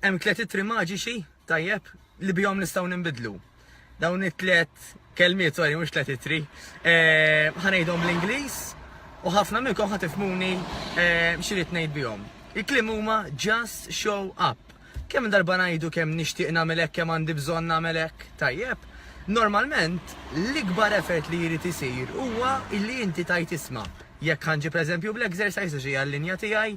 Hemm tliet ittri maġiċi, tajjeb, li bihom nistgħu ninbidlu. Dawn it-tliet kelmiet, sorry, mhux tliet ittri, eh, ħanejdhom bl-Ingliż u ħafna minnkom ħatifmuni eh, x'irid ngħid bihom. Il-klim huma just show up. Kemm darba ngħidu kemm nixtieq nagħmel hekk kemm għandi bżonn nagħmel hekk, tajjeb. Normalment l-ikbar effort li jrid isir huwa illi inti tajt isma' jekk ħanġi pereżempju bl-exercise xi għall-linja tiegħi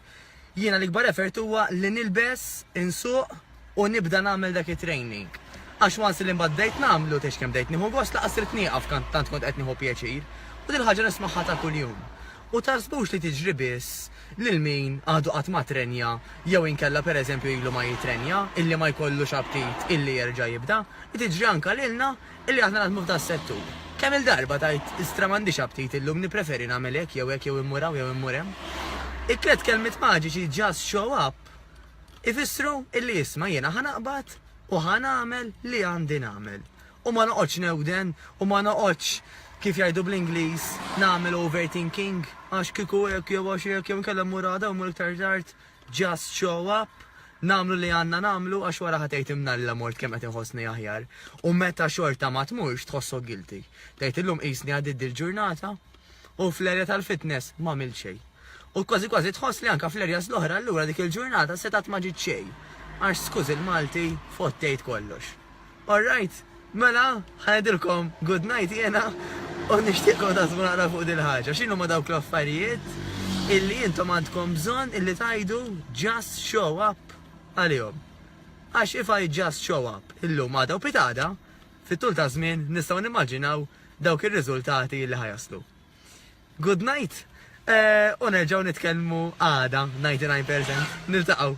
Jiena l-ikbar effort huwa li nilbes, insuq u nibda nagħmel dak it-training. Għax once li mbagħad bdejt nagħmlu, tgħidx kemm bdejt nieħu gost laqas ridt nieqaf tant kont qed nieħu pjaċir. U dil-ħaġa nismagħha ta' kuljum. U taħsbux li tiġri biss lil min għadu qatt ma trenja jew inkella per eżempju ilu ma jitrenja, illi ma jkollux aptit illi jerġa' jibda, li tiġri anke lilna Illi aħna naħdmu f'dan is-settur. Kemm-il darba tgħid, Istra m'għandix aptit illum, nippreferi nagħmel hekk jew hekk jew immur hawn jew immur hemm. It-tliet kelmiet maġiċi just show up ifissru illi isma' jiena ħa naqbad u ħa nagħmel li għandi nagħmel. U ma noqgħodx newden u ma noqgħodx, kif jgħidu bl-Ingliż, nagħmel overthinking, għax kieku hekk jew għax hekk jew inkella mmur għada jew mmur iktar tard. Just show up, nagħmlu li għandna nagħmlu għax wara ħa tgħid imnalla mort kemm qed inħossni aħjar. U meta xorta ma tmurx tħossok guilty. Tgħid illum qisni għaddiet dil-ġurnata u fl-erja tal-fitness m'għamilt xejn. U kważi kważi tħoss li anke fl-erjas l-oħra allura dik il-ġurnata setgħet ma ġiet xejn. Għax skużi l-Malti fottejt kollox. All right, mela ħa ngħidilkom good night jiena u nixtieqkom taħsbu naqra fuq din il-ħaġa. X'inhuma dawk l-affarijiet illi intom għandkom bżonn illi tgħidu just show up għalihom? Għax if I just show up illum għada u pitgħada, fit-tul ta' żmien nistgħu nimmaġinaw dawk ir-riżultati illi ħa jaslu. Good night u nerġgħu nitkellmu għada 99%. Niltaqgħu.